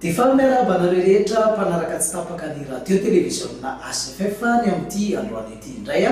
Efa miarahaba anareo rehetra mpanaraka tsy tapaka ny Radio Televiziona HFF ny amin'ity androany ity indray.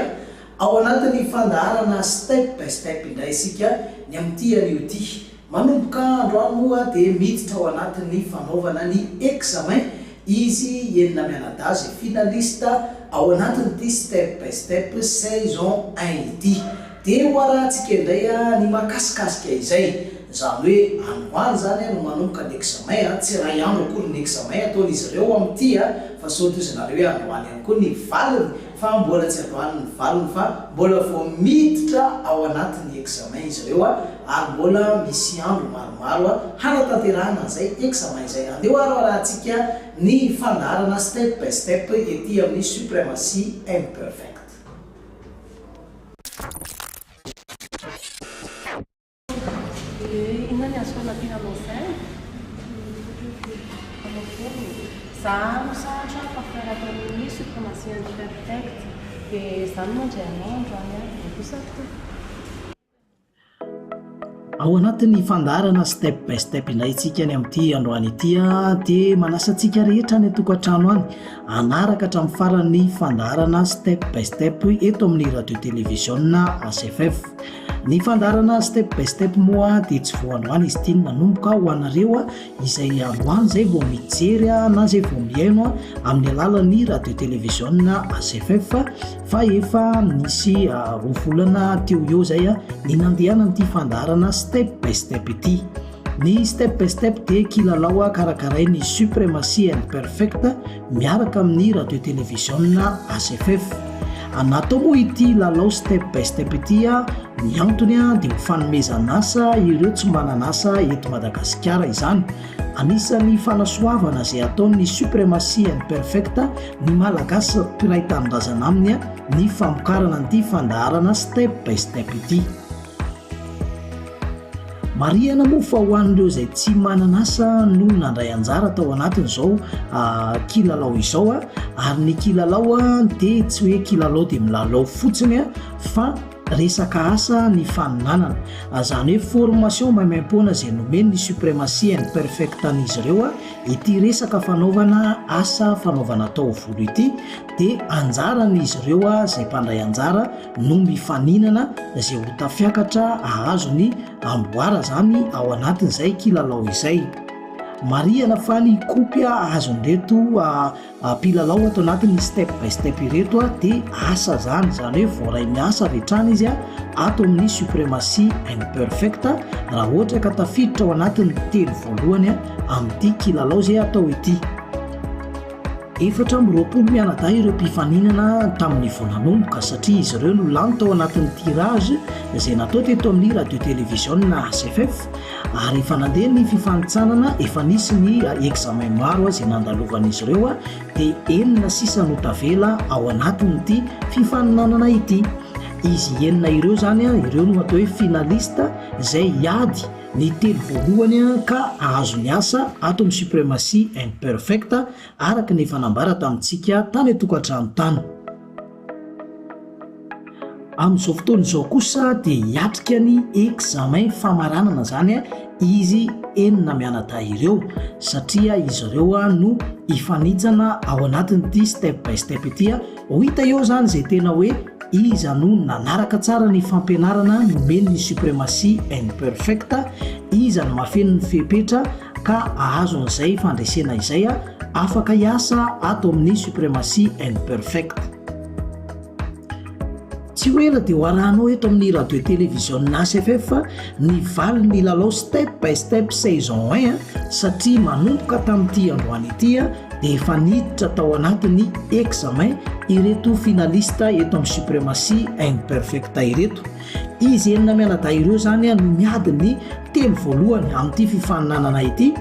Ao anatin'ny fandaharana Step by Step indray isika ny amin'ity anio ity. Manomboka androany moa dia miditra ao anatin'ny fanaovana ny examen izy enina mianadahy finaliste ao anatin'ity step by step saison un ity. Dia ho arahantsika indray ny makasikasika izay. Izany hoe androany izany no manomboka ny examen, tsy iray andro akory ny examen ataon'izy ireo amin'ity fa sao tohizinareo hoe androany ihany koa ny valiny. fa mbola tsy avoahan'ny ny valiny fa mbola vao miditra ao anatin'ny examen izy ireo ary mbola misy andro maromaro hanatanterahana an'izay examen izay. Andeho ary arahantsika ny fandaharana step by step ety amin'ny Supremacy Imperfect. Ao anatin'ny fandaharana Step by Step indray isika ny amin'ity androany ity dia manasa antsika rehetra any an-tokantrano any hanaraka hatramin'ny faran'ny fandaharana Step by Step eto amin'ny radio televiziona HFF. Ny fandaharana step by step moa dia tsy vao androany izy ity no manomboka ho anareo izay androany izay vao mijery na izay vao mihaino amin'ny alalan'ny radio televiziona AZFF fa efa nisy ah, roa volana teo eo izay ah, ny nandehanan'ity fandaharana step by step ity. Ny step by step dia kilalao ah, karakarain'ny Supremacy and Perfect miaraka amin'ny radio televiziona ACFEF. Natao moa ity lalao step by step ity a, ny antony a dia ho fanomezan'asa ireo tsy manan'asa eto Madagasikara izany. Anisan'ny fanasoavana izay ataon'ny Supremacy and Perfect ny Malagasy mpiray tanindrazana aminy ny famokarana an'ity fandaharana step by step ity. Marihana moa fa ho an'ireo izay tsy manana asa no nandray anjara tao anatin'izao ah, kilalao izao ah, ary ny kilalao ah, dia tsy hoe kilalao dia milalao fotsiny ah, fa resaka asa ny faninanana. Izany hoe formation maimaim-poana izay nomen'ny Supremacy and Perfect an'izy ireo ah, ity resaka fanaovana asa fanaovana taovolo ity dia anjaran'izy ireo ah, izay mpandray anjara, no mifaninana izay ho tafiakatra ahazo ny amboara zany ao anatin' izay kilalao izay marihana fa ny kopy ahazon' ireto mpilalao ato anatin'ny step by step ireto a dia asa zany zany hoe voaray miasa avy hatrany izy a ato amin'ny supremacie imperfect raha ohatra ka tafiditra ao anatin'ny telo voalohany a amin'ity kilalao izay atao ity Efatra amby roapolo mianadahy ireo mpifaninana tamin'ny vao nanomboka satria izy ireo no lany tao anatin'ny tirage izay natao teto amin'ny radio televiziona HFF ary efa nandeha ny fifanintsanana efa nisy ny examen maro izay nandalovan'izy ireo dia enina sisa no tavela ao anatin'ity fifaninanana ity. Izy enina ireo izany ireo no atao hoe finaliste izay hiady Ny telo voalohany ka ahazo ny asa ato amin'ny Supremacy and Perfect araka ny efa nambara tamintsika tany an-tokantrano tany. Amin'izao fotoana izao kosa dia hiatrika ny examen famaranana izany izy enina mianadahy ireo satria izy ireo no hifanitsana ao anatin'ity step by step ity. Ho hita eo izany izay tena hoe iza no nanaraka tsara ny fampianarana nomen'ny Supremacy and Perfect, iza no mahafeno ny fepetra ka ahazo an'izay fandresena izay afaka hiasa ato amin'ny Supremacy and Perfect. Tsy ho ela dia ho arahanao eto amin'ny radio televiziona HFF ny valin'ny lalao step by step saison 1 satria manomboka tamin'ity androany ity dia efa niditra tao anatin'ny examen ireto finaliste eto amin'ny supremacy and perfect ireto. Izy enina mianadahy ireo izany no miady ny telo voalohany amin'ity fifaninanana ity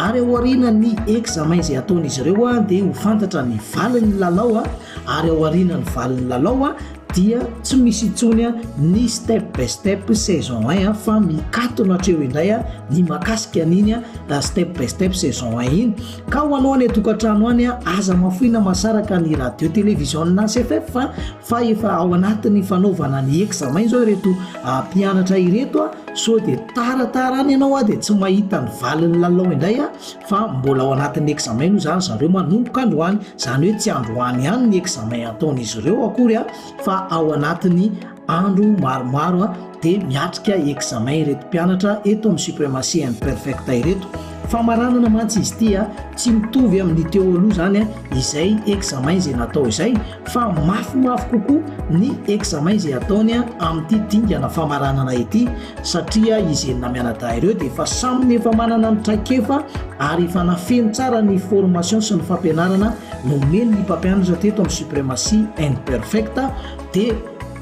ary aoriana ny examen izay ataon'izy ireo dia ho fantatra ny valin'ny lalao ary ao aorianan'ny valin'ny lalao dia tsy misy intsony ny step by step saison un fa mikatona hatreo indray ny makasika an'iny step by step saison un iny ka ho anao any atokantrano any aza mafoina masaraka ny radio télévision na cff fa efa ao anatin'ny fanaovana ny examen izao ireto ah, mpianatra ireto a so dia taratara any ianao a dia tsy mahita ny valin'ny lalao indray a fa mbola ao anatin'ny examen moa zany zareo manomboka androany zany hoe tsy androany ihany ny examen ataon'izy ireo akory a fa ao anatin'ny andro maromaro a de miatrika examen ireto mpianatra eto amin'ny supremacy and perfect ireto famaranana mantsy izy ity a tsy mitovy amin'ny teo aloha zany a izay examen izay natao izay fa mafimafy kokoa ny examen izay ataony a amin'ity dingana famaranana ity satria izy enina mianadahy ireo dia efa samy ny efa manana ny traikefa ary efa nafeno tsara ny formation sy ny fampianarana nomeny ny mpampianatra teto amin'ny supremacy and perfect dia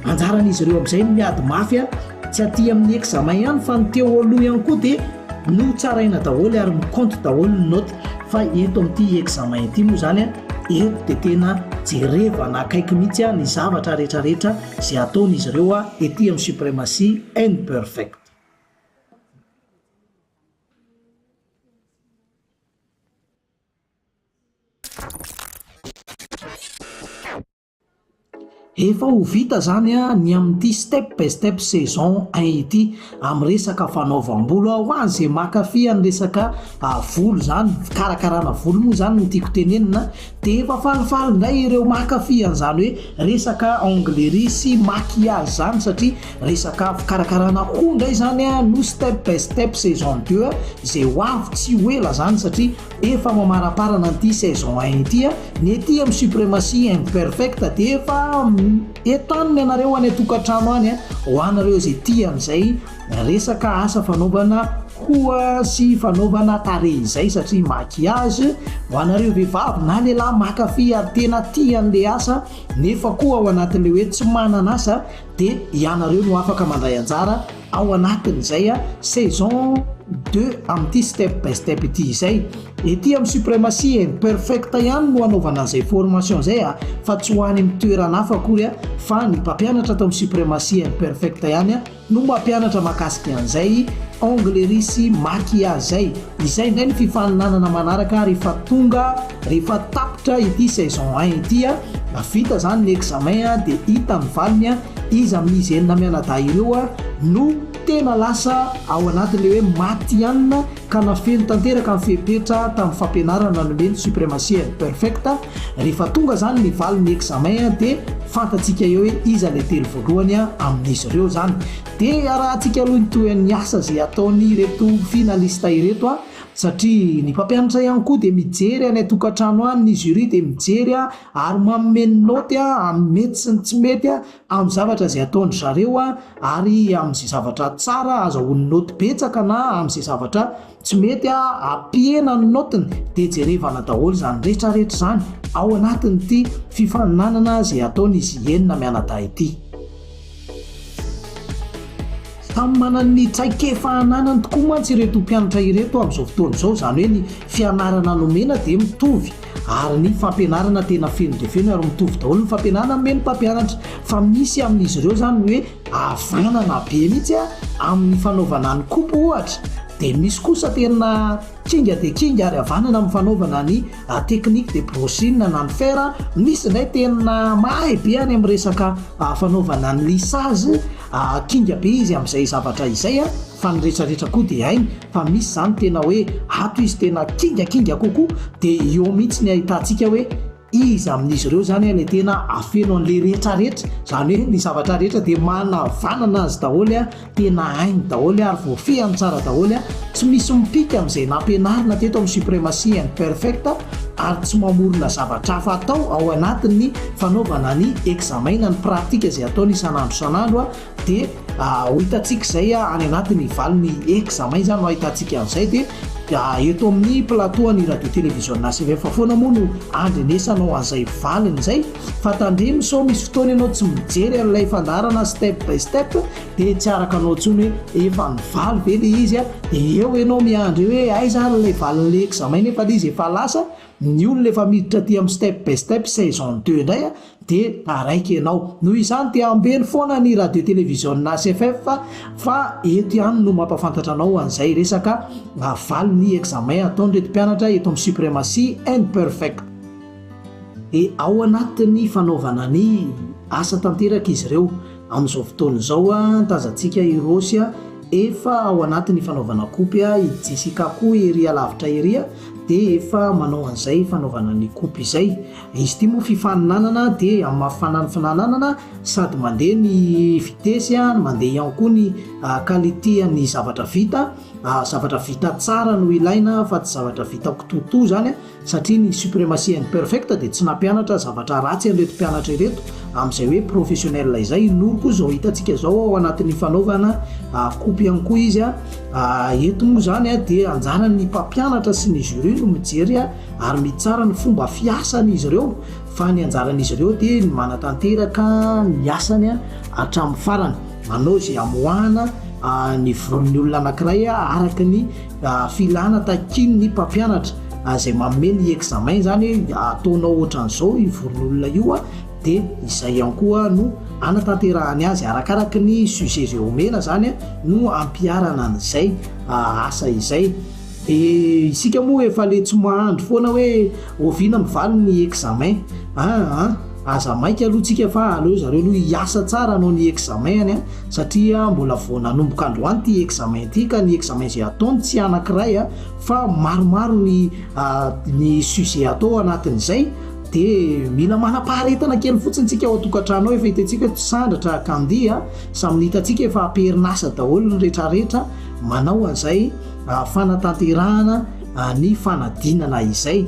anjaran'izy ireo amin'izay ny miady mafy a tsy aty amin'ny examen ihany fa ny teo aloha ihany koa dia no tsaraina daholo ary miconte daholo ny note fa eto amin'ity examen ity moa zany a eto dia tena jerevana akaiky mihitsy a ny zavatra rehetrarehetra Izay ataon' izy ireo ety amin'ny suprematie and perfect. Efa ho vita izany ny amin'ity step by step saison un ity. Amin'ny resaka fanaovam-bolo aho an, izay mankafy an'ny resaka volo izany, fikarakarana volo moa izany no tiako tenenina, dia efa falifaly indray ireo mankafy an'izany hoe resaka onglerie sy maquillage izany satria resaka fikarakarana hoho indray izany an no step by step saison deux an, izay ho avy tsy ho ela izany satria efa mamaramparana an'ity saison un ity an, ny ety amin'ny supremacy imperfect dia efa. Entanina ianareo any an-tokantrano any ho anareo izay tia an'izay resaka asa fanaovana hoho sy fanaovana tarehy izay satria maquillage ho anareo vehivavy na lehilahy mankafy ary tena tia an'ilay asa nefa koa ao anatin'ilay hoe tsy manana asa dia ianareo no afaka mandray anjara Ao anatin'izay saison deux amin'ity step by step ity izay. Ety amin'ny Supremacy and Perfect ihany no anaovana an'izay formation izay fa tsy ho any amin'ny toerana hafa akory fa ny mpampianatra ato amin'ny Supremacy and Perfect ihany no mampianatra mahakasika an'izay onglerie sy maquillage izay. Izay indray ny fifaninanana manaraka rehefa tonga, rehefa tapitra ity saison un ity. Vita izany ny examen dia hita ny valiny. Iza amin'izy enina mianadahy ireo no tena lasa ao anatin'ilay hoe maty ihany ka nafeno tanteraka ny fepetra tamin'ny fampianarana nomeny Supremacy and Perfect? Rehefa tonga izany ny valin'ny examen dia fantatsika eo hoe iza ilay telo voalohany amin'izy ireo izany. Dia arahantsika aloha ny tohin'ny asa izay ataon'ireto finaliste ireto satria ny mpampianatra ihany koa dia mijery any an-tokantrano any, ny jury dia mijery ary manome ny naoty amin'ny mety sy ny tsy mety amin'ny zavatra izay ataon-dry zareo ary amin'izay zavatra tsara azahoany naoty betsaka na amin'izay zavatra tsy mety ampihena ny naotiny dia jerevana daholo izany rehetrarehetra izany ao anatin'ity fifaninanana izay ataon'izy enina mianadahy ity. Samy manana ny traikefa ananany tokoa mantsy ireto mpianatra ireto amin'izao fotoana izao, izany hoe ny fianarana nomena dia mitovy ary ny fampianarana tena feno dia feno ary mitovy daholo ny fampianarana nomen'ny mpampianatra fa misy amin'izy ireo izany ny hoe havanana be mihitsy amin'ny fanaovana ny kopy ohatra dia misy kosa tena Kinga dia kinga ary havanana amin'ny fanaovana ny technique de brushing na ny fer. Misy indray tena mahay be any amin'ny resaka fanaovana ny lissage, kinga be izy amin'izay zavatra izay fa ny retraretra koa dia hainy fa misy izany tena hoe ato izy tena kinga kinga kokoa dia eo mihitsy ny ahitantsika hoe Iza amin'izy ireo izany ilay tena afeno an'ilay rehetra rehetra? Izany hoe ny zavatra rehetra dia manavanana azy daholo, tena hainy daholo ary voafehiny tsara daholo, tsy misy mipika amin'izay nampianarina teto amin'ny Supremacy and Perfect ary tsy mamorona zavatra hafa atao ao anatin'ny fanaovana ny examina, ny pratika izay ataony isan'andro isan'andro Dia ho hitantsika izay any anaty ny valin'ny examen izany no hahitantsika an'izay dia eto amin'ny plateau an'ny radio télévision ACVF foana moa no andrenesanao an'izay valiny izay fa tandremo sao misy fotoana ianao tsy mijery an'ilay fandaharana step by step dia tsy araka anao intsony hoe efa nivaly ve ilay izy dia eo ianao miandry eo hoe aiza ary ilay valin'ilay examen nefa ilay izy efa lasa ny olona efa miditra aty amin'ny step by step saison deux indray dia taraiky ianao. Noho izany dia ambeno foana ny radio televiziona HFF fa eto ihany no mampafantatra anao an'izay resaka valiny examen ataon'ireto mpianatra eto amin'ny Supremacy and Perfect. Dia ao anatin'ny fanaovana ny asa tanteraka izy ireo. Amin'izao fotoana izao ny tazantsika i Rossy efa ao anatin'ny fanaovana kopy, i Jessica koa ery alavitra ery dia efa manao an'izay fanaovana ny kopy izay. Izy ity moa fifaninanana dia mafana ny finananana sady mandeha ny vitesse a, mandeha ihany koa ny qualité an'ny zavatra vita, zavatra vita tsara no ilaina fa tsy zavatra vita kitoatoa zany a, satria ny supremacy imperfect dia tsy nampianatra zavatra ratsy an'ireto mpianatra ireto amin'izay hoe professionnel izay, i Noro koa izao hitantsika izao ao anatin'ny fanaovana kopy ihany koa izy a, eto moa zany a dia anjaran'ny mpampianatra sy ny jury no mijery a. ary mitsara ny fomba fiasan'izy ireo fa ny anjaran'izy ireo dia ny manatanteraka ny asany hatramin'ny farany, manao izay hamoahana ah, ny voron'ny olona anankiray ah, araka ny ah, filana takian'ny mpampianatra ah, izay manome ny examen izany, ataonao ohatran'izao io voron'olona io ah, dia izay ihany koa no anatanterahany azy, arakaraka ny sujet izay omena izany ah, no ampiharana an'izay ah, asa izay. Dia isika moa efa le tsy mahandry foana hoe oviana mivaly ny examen an an! Aza maika aloha tsika fa aleo zareo aloha hiasa tsara hanao ny examen any an! Satria mbola vao nanomboka androany ity examen ity ka ny examen izay ataony tsy anankiray an! Fa maromaro ny ny sujet atao anatin'izay dia mila manam-paharetana kely fotsiny tsika ao an-tokantrano ao efa hitantsika tsy sandratra ka andihy an! Samy ny hitantsika efa am-perin'asa daholo ny retraretra manao an'izay fanatanterahana ny fanadinana izay.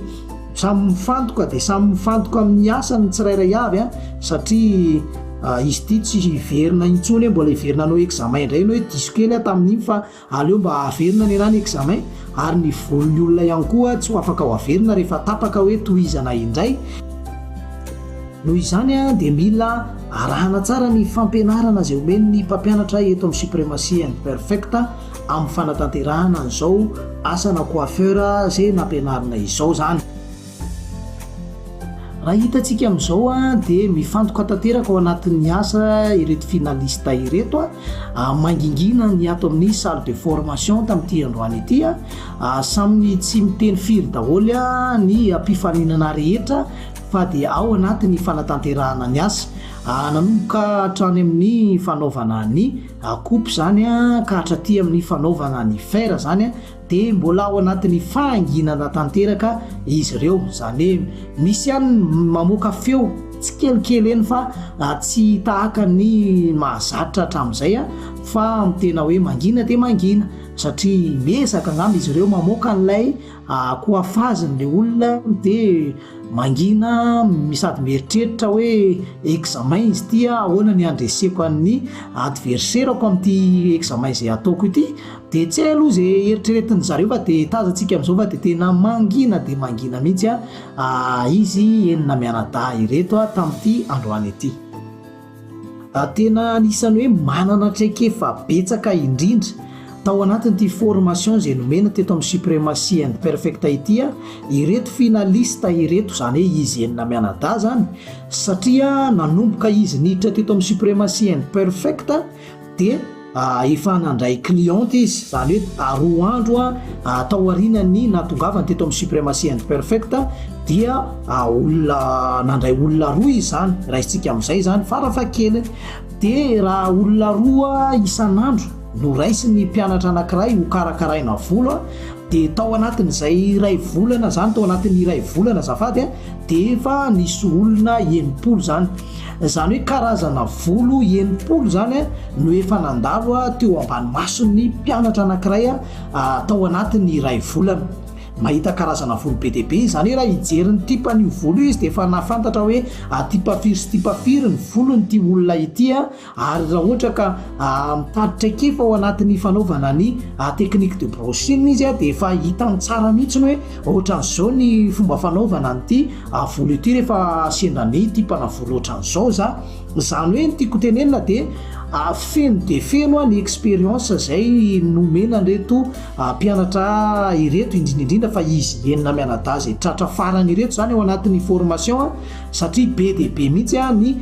Samy mifantoka dia samy mifantoka amin'ny asany ny tsirairay avy a, satria Ah, izy ity tsy hiverina intsony hoe mbola hiverina anao examen indray ianao hoe diso kely aho tamin'iny fa aleo mba haverina ny anany examen ary ny volon'ny olona ihany koa tsy ho afaka ho haverina rehefa tapaka hoe tohizana indray noho izany a dia mila arahana tsara ny fampianarana izay omen'ny mpampianatra eto amin'ny supremacy and perfect amin'ny fanatanterahana an'izao asana coiffeur izay nampianarina izao izany. Raha hitantsika amin'izao dia mifantoka tanteraka ao anatin'ny asa ireto finaliste ireto, mangingina ny ato amin'ny salle de formation tamin'ity androany ity. Samy tsy miteny firy daholo ny mpifaninana rehetra fa dia ao anatin'ny fanatanterahana ny asa. Nanomboka hatrany amin'ny fanaovana ny Akopy izany ka hatraty amin'ny fanaovana ny fer izany dia mbola ao anatin'ny fahanginana tanteraka izy ireo, izany hoe misy ihany ny mamoaka feo tsikelikely eny fa tsy tahaka ny mahazatra hatramin'izay fa tena hoe mangina dia mangina satria miezaka angamba izy ireo mamoaka an'ilay Ah koa afaziny le olona de mangina sady mieritreritra hoe examen izy ity ah ahoana ny handreseko an'ny adverserako amin'ity examen izay ataoko ity de tsy hay aloha ze eritreretin'ny zareo fa de tazantsika am'zao fa de tena mangina de mangina mihitsy ah izy enina mianadahy ireto ah tamin'ity androany ity. ary tena anisan'ny hoe manana traikefa betsaka indrindra tao anatin'ity formation izay nomena teto amin'ny supremacy and perfect ity aho ireto finaliste ireto izany hoe izy enina mianadahy izany satria nanomboka izy niditra teto amin'ny supremacy and perfect dia efa nandray cliente izy, izany hoe roa andro tao aorianan'ny nahatongavany teto amin'ny Supremacy and Perfect dia olona nandray olona roa izy izany, raisintsika amin'izay izany farafahakeliny, dia raha olona roa isan'andro no raisin'ny mpianatra anankiray hokarakaraina volo a, dia tao anatin'izay iray volana izany, tao anatin'ny iray volana azafady a, dia efa nisy olona enimpolo izany. Izany hoe karazana volo enimpolo izany no efa nandalo teo ambany mason'ny mpianatra anankiray tao anatin'ny iray volana. Mahita karazana volo be dia be izany hoe raha hijery ny tipan'io volo io izy dia efa nahafantatra hoe tipa firy sy tipa firy ny volon'ity olona ity ary raha ohatra ka mitady traikefa ao anatin'ny fanaovana ny technique de brushing izy dia efa hitany tsara mihitsy ny hoe Ohatran'izao ny fomba fanaovana an'ity volo ity rehefa sendra ny tia mpanao volo ohatran'izao za. Izany hoe ny tiako tenenina dia feno dia feno ny expérience izay nomena an'ireto mpianatra ireto indrindra indrindra fa izy enina mianadahy izay tratra farany ireto izany ao anatin'ny formation satria be dia be mihitsy ny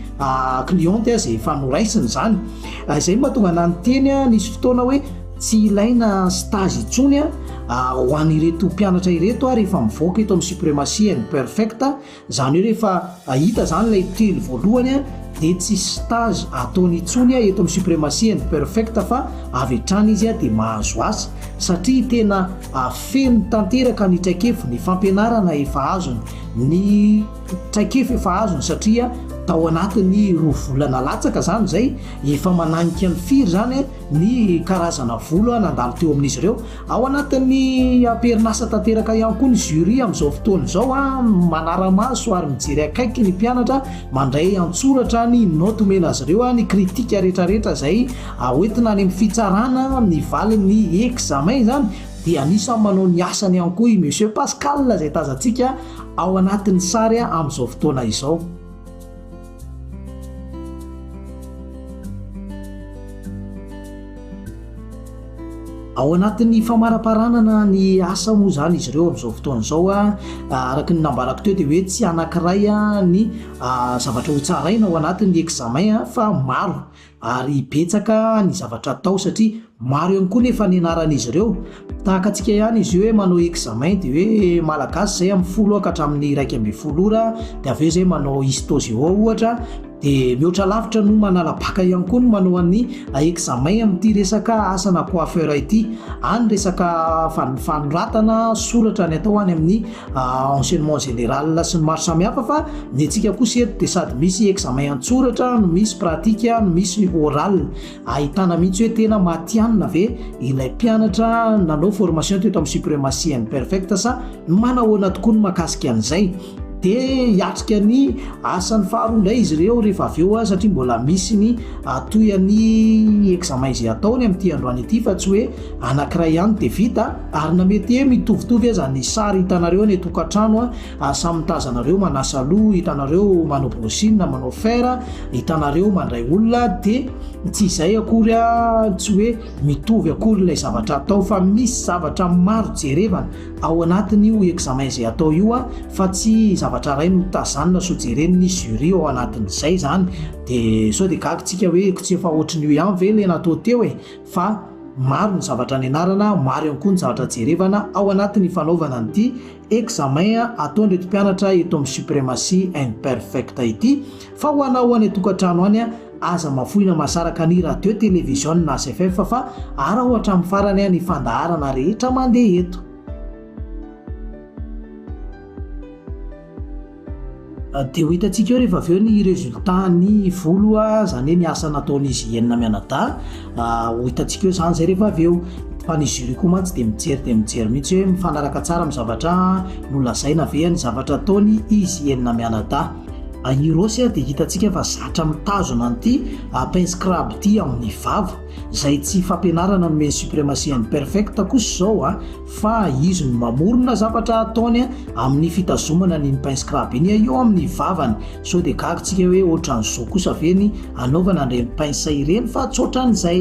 cliente izay efa noraisiny izany. Izay no mahatonga an'ahy niteny nisy fotoana hoe. Tsy ilaina stage intsony ho an'ireto mpianatra ireto ary efa mivoaka eto amin'ny Supremacy and Perfect, izany hoe rehefa hita izany ilay telo voalohany dia tsy stage ataony intsony eto amin'ny Supremacy and Perfect fa avy hatrany izy dia mahazo asa satria tena feno tanteraka ny traikefa, ny fampianarana efa azony, ny traikefa efa azony satria tao anatin'ny roa volana latsaka izany izay efa mananika ny firy izany. ny karazana vola nandalo teo amin'izy ireo. Ao anatin'ny amperin'asa tanteraka ihany koa ny jury amin'izao fotoana izao, manara-maso ary mijery akaiky ny mpianatra, mandray an-tsoratra ny naoty omena azy ireo, ny kritika rehetrarehetra izay hoentina any amin'ny fitsarana, ny valin'ny examen izany dia anisan'ny manao ny asany ihany koa i Monsieur Pascal izay tazantsika ao anatin'ny sary amin'izao fotoana izao. Ao anatin'ny famaraparanana ny asa moa izany izy ireo amin'izao fotoana izao a araka ny nambarako teo dia hoe tsy anankiray a ny zavatra ho tsaraina ao anatin'ny examen fa maro ary betsaka ny zavatra atao satria maro ihany koa nefa ny anaran'izy ireo, tahaka antsika ihany izy io hoe manao examen dia hoe malagasy izay amin'ny folo ora ka hatramin'ny iraika ambin'ny folo ora dia avy eo izay manao histo géo ohatra dia mihoatra lavitra noho manala bacc ihany koa ny manao an'ny examen amin'ity resaka asa na coiffeur ity, any resaka fanoratana soratra ny atao any amin'ny enseignement général sy ny maro samihafa fa ny antsika kosa eto dia sady misy examen an-tsoratra no misy pratique no misy oral ahitana mihitsy hoe tena matihanina ve ilay mpianatra nanao formation teto amin'ny supremacy and perfect sa manahoana tokoa ny makasika an'izay dia hiatrika ny asan'ny faharoa indray izy ireo rehefa avy eo satria mbola misy ny atoy an'ny examen izay ataony amin'ity androany ity fa tsy hoe anankiray ihany dia vita Ary na mety he mitovitovy aza ny sary hitanareo any atokantrano a, ary samy mitazana anareo manasa loha, hitanareo manao brushing na manao fer, hitanareo mandray olona, dia tsy izay akory a, tsy hoe mitovy akory ilay zavatra atao fa misy zavatra maro jerevana ao anatin' io examen izay atao io a, fa tsy zavatra iray no tazanina so jeren' ny jury ao anatin' izay izany, dia sao dia gaga tsika hoe ko tsy efa ohatran' io ihany ve ilay natao teo e? fa maro ny zavatra nianarana, maro ihany koa ny zavatra jerevana ao anatin'ny fanaovana an'ity examen ataon'ireto mpianatra eto amin'ny Supremacy and Perfect ity. Fa ho anao any an-tokantrano any, aza mafoina masaraka ny radio, television, na CFF fa araho hatramin'ny farany ny fandaharana rehetra mandeha eto. Dia ho hitantsika eo rehefa avy eo ny résultat ny volo izany hoe ny asa nataon'izy i Enina mianadahy, ho hitantsika eo izany izay rehefa avy eo. Fa ny jury koa mantsy dia mijery dia mijery mihitsy hoe mifanaraka tsara amin'ny zavatra nolazaina ve ny zavatra ataony izy enina mianadahy. I Hirosy dia hitantsika fa zatra mitazona an'ity pince crabe ity amin'ny vava, izay tsy fampianarana no omeny supremacy imperfect kosa izao an. fa izy no mamorona zavatra ataony amin'ny fitazomana an'iny pain scrab iny eo amin'ny vavany, sao dia gaga tsika hoe ohatran'izao kosa ve ny anaovana an'ireny pince ireny fa tsy ohatran'izay.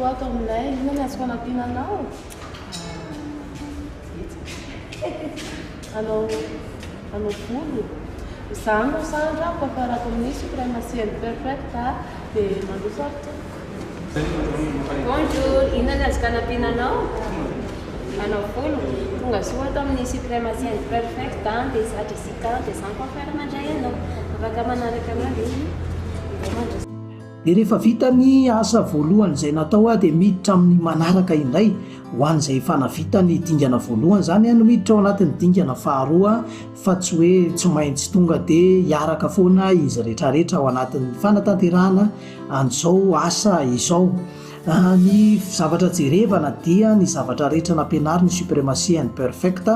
Koa ato aminay, inona ny azo fanampiana anao? Hanao hanao volo. Izaho no sandra, mpamparako amin'ny supreme ciel perfect dia mandroso ato tompoko. Bonjour, inona ny azo fanampiana anao? Manao volo? Tongasoa ato amin'ny Supremaciens Perfect an, dia za Jessica, dia za ny coiffeur mandray anao. Afaka manaraka anao ve izy? Indray mandroso. Dia rehefa vita ny asa voalohany izay natao aho dia miditra amin'ny manaraka indray, ho an'izay efa navita ny dingana voalohany izany no miditra ao anatin'ny dingana faharoa fa tsy hoe tsy maintsy tonga dia hiaraka foana izy rehetrarehetra ao anatin'ny fanatanterahana an'izao asa izao. Ny zavatra jerevana dia ny zavatra rehetra nampianarin'ny Supremacy and Perfect,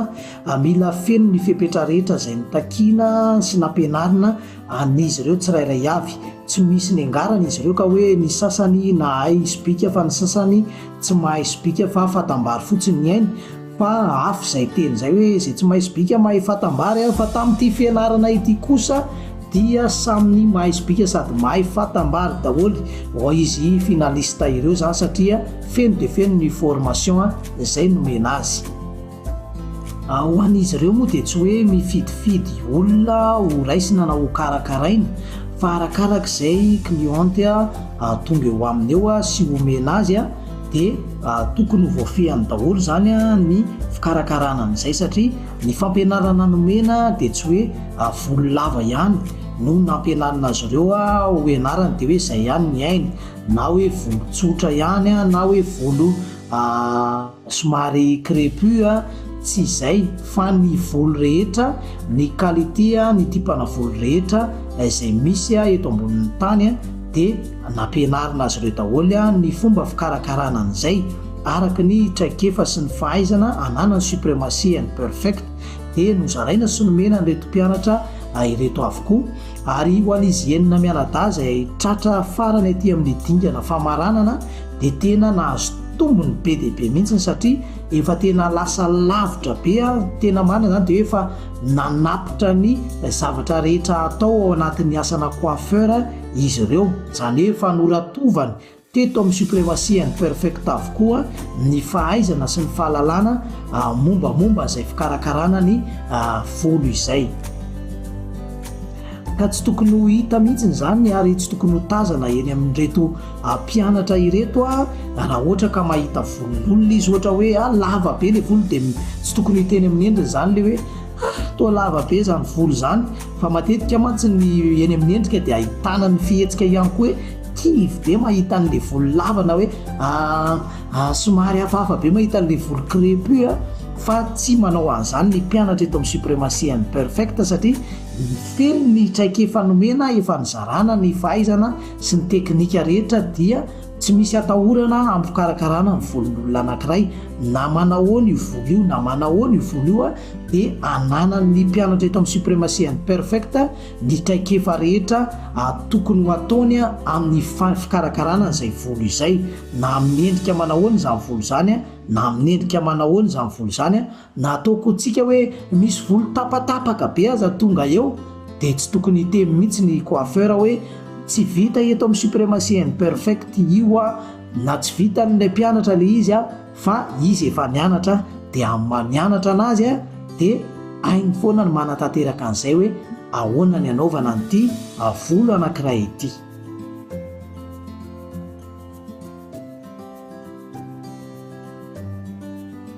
mila feno ny fepetra rehetra izay notakiana sy nampianarina an'izy ireo tsirairay avy. Tsy misy niangarana izy ireo ka hoe ny sasany nahay sobika fa ny sasany tsy mahay sobika fa fatam-bary fotsiny ny ainy, Fa afy izay teny izay hoe izay tsy mahay sobika mahay fatam-bary an! Fa tamin'ity fianarana ity kosa dia samy ny mahay sobika sady mahay fatam-bary daholo oh izy finaliste ireo izany satria feno dia feno ny formation izay nomena azy. Ho an'izy ireo moa dia tsy hoe mifidifidy olona ho raisina na ho karakaraina fa arakaraka izay cliente tonga eo aminy eo sy omena azy an! dia tokony ho voafehiny daholo izany ny fikarakarana an'izay satria ny fampianarana nomena dia tsy hoe volo lava ihany no nampianarina azy ireo ho ianarany dia hoe izay ihany ny ainy na hoe volo tsotra ihany na hoe volo somary crepu tsy izay fa ny volo rehetra ny qualité ny tipana volo rehetra izay misy eto ambonin'ny tany dia Nampianarina azy ireo daholo ny fomba fikarakarana an'izay araka ny traikefa sy ny fahaizana ananany Supremacy and Perfect dia nozaraina sy nomena an'ireto mpianatra ireto avokoa ary ho an'izy enina mianadahy izay tratra farany aty amin'ny dingana famaranana dia tena nahazo tombony be dia be mihitsy satria efa tena lasa lavitra be tena marina izany dia efa nanatitra ny zavatra rehetra atao ao anatin'ny asana coiffeur Izy ireo, izany hoe efa noratovany teto amin'ny Supremacy and Perfect avokoa ny fahaizana sy ny fahalalana mombamomba izay fikarakarana ny volo izay. Ka tsy tokony ho hita mihitsy izany ary tsy tokony ho tazana eny amin'ireto mpianatra ireto raha ohatra ka mahita volon'olona izy ohatra hoe lava be ilay volo dia tsy tokony hiteny amin'ny endriny izany ilay hoe Ah! toa lava be izany volo izany fa matetika mantsy ny eny amin'ny endrika dia ahitana ny fihetsika ihany koa hoe kivy be mahita an'ilay volo lava na hoe ah, somary hafahafa be mahita an'ilay volo crepue a! fa tsy manao an'izany ny mpianatra eto amin'ny Supremacy and Perfect satria feno ny traikefa nomena efa nizarana ny fahaizana sy ny teknika rehetra dia Tsy misy atahorana hampikarakarana ny volon'olona anankiray, na manahoana io volo io na manahoana io volo io dia ananan'ny mpianatra eto amin'ny Supremacy and Perfect ny traikefa rehetra tokony ho ataony amin'ny fikarakarana an'izay volo izay, na amin'ny endrika manahoana izany volo izany na amin'ny endrika manahoana izany volo izany. Na atao koa tsika hoe misy volo tapatapaka be aza tonga eo dia tsy tokony hiteny mihitsy ny coiffeur hoe tsy vita eto amin'ny supremacy and perfect io a! na tsy vitan'ilay mpianatra ilay izy a! fa izy efa nianatra dia amin'ny maha nianatra anazy a! dia hainy foana ny manatanteraka an'izay hoe ahoana ny anaovana an'ity volo anankiray ity.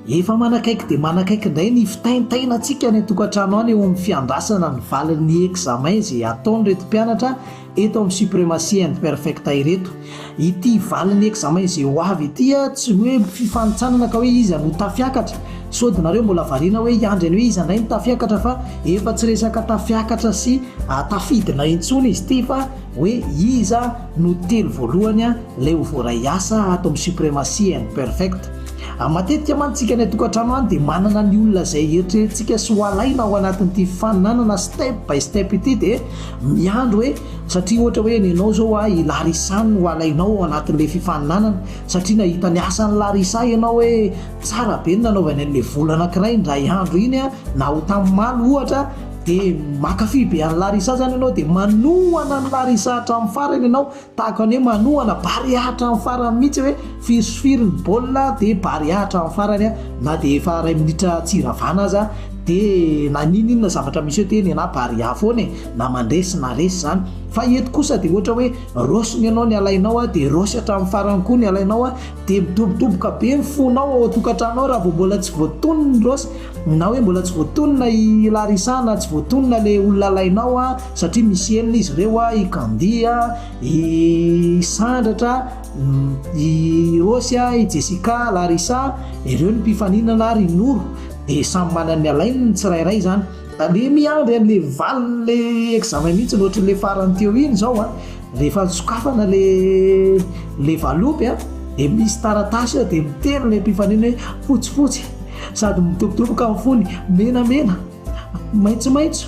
Efa manakaiky dia manakaiky indray ny fitaintainantsika any an-tokantrano any eo amin'ny fiandrasana ny valin'ny examen izay ataon'ireto mpianatra eto amin'ny Supremacy and Perfecta ireto. Ity valin'ny examen izay ho avy ity tsy hoe fifanintsanana ka hoe iza no tafiakatra. Sao dia nareo mbola variana hoe hiandry an'i hoe iza indray no tafiakatra fa efa tsy resaka tafiakatra sy tafidina intsony izy ity fa hoe iza no telo voalohany lay ho voaray hiasa ato amin'ny supremacy and perfect. Matetika mantsy tsika any an-tokantrano any dia manana ny olona izay heritreretintsika sy ho alaina ao anatin'ity faninanana step by step ity dia miandry hoe satria ohatra hoe nenao izao a i larisa no ho alainao ao anatin'ilay fifaninanana satria nahita ny asan'ny larisa ianao hoe tsara be ny nanaovany an'ilay vola anankiray indray andro iny a na ho tamin'ny malo ohatra Dia mankafy be an'i Larisa izany ianao dia manohana an'i Larisa hatramin'ny farany ianao, tahaka ny hoe manohana Barea hatramin'ny farany mihitsy hoe firy sy firy ny baolina dia Barea hatramin'ny farany na dia efa iray minitra tsy iravana aza dia na n'inon'inona zavatra misy eo dia nenaha Barea foana e! na mandresy na resy izany fa eto kosa dia ohatra hoe raosiny ianao ny alainao dia raosy hatramin'ny farany koa ny alainao dia midobodoboka be ny fonao ao an-tokantrano ao raha vao mbola tsy voatonony ny raosy Na hoe mbola tsy voatonona i Larissa na tsy voatonona le olona alainao a, satria misy enina izy ireo a, i Candy a, i Sandratra, i Rosy a, i Jessica, Larissa, ireo ny mpifaninana ary i Noro, dia samy manana ny alainy ny tsirairay izany. Aleo miandry an'ilay valin'ilay examen mihitsy ny ohatran'ilay farany teo iny izao a, Rehefa nisokafana ilay valopy an, dia misy taratasy eo, dia miteny ilay mpifaninana hoe fotsifotsy, sady midobodoboka amin'ny fony, menamena, maitsomaitso,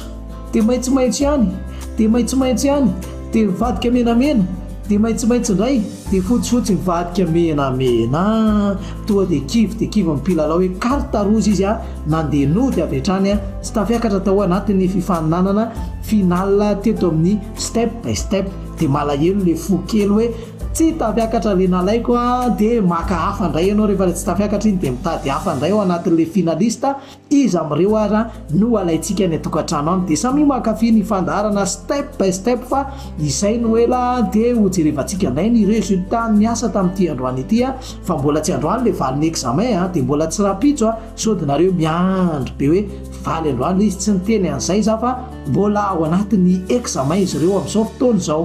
dia maitsomaitso ihany, dia maitsomaitso ihany, dia mivadika menamena, dia maitsomaitso indray, dia fotsifotsy mivadika menamena. Tonga dia kivy dia kivy ny mpilalao hoe carte rouge izy an, nandeha nody avy hatrany an, tsy tafiakatra tao anatin'ny fifaninanana finale teto amin'ny. Step by step de malahelo le fo kely hoe tsy tafiakatra le nalaiko a de maka hafa ndray ianao rehefa le tsy tafiakatra iny de mitady hafa ndray ao anatin'le finaliste iza amin'ireo ara no alaintsika any an-tokantrano any de samia mankafy ny fandaharana step by step fa izay no ela de ho jerevantsika ndray ny resultat ny asa tamin'ity androany ity a fa mbola tsy androany le valin'ny examen a de mbola tsy rahampitso a Sody nareo miandry be hoe valo androany izy tsy niteny an'izay za fa mbola ao anatin'ny examen izy ireo amin'izao fotoana izao.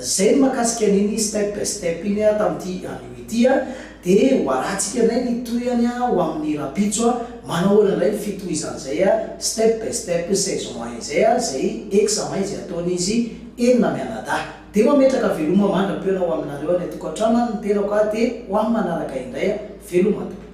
Zay ny makasika an'iny step by step iny a tamin'ity anio ity a. Dia ho arantsika indray ny tohiny a ho amin'ny rahampitso a. Manao ahoana indray ny fitohizan'izay a step by step saison un izay a, izay examen izay ataon'izy enina mianadahy. Dia mametraka veloma mandra-peo na ho aminareo any an-tokantrano any ny tenako a dia ho amin'ny manaraka indray a. Veloma tompoko.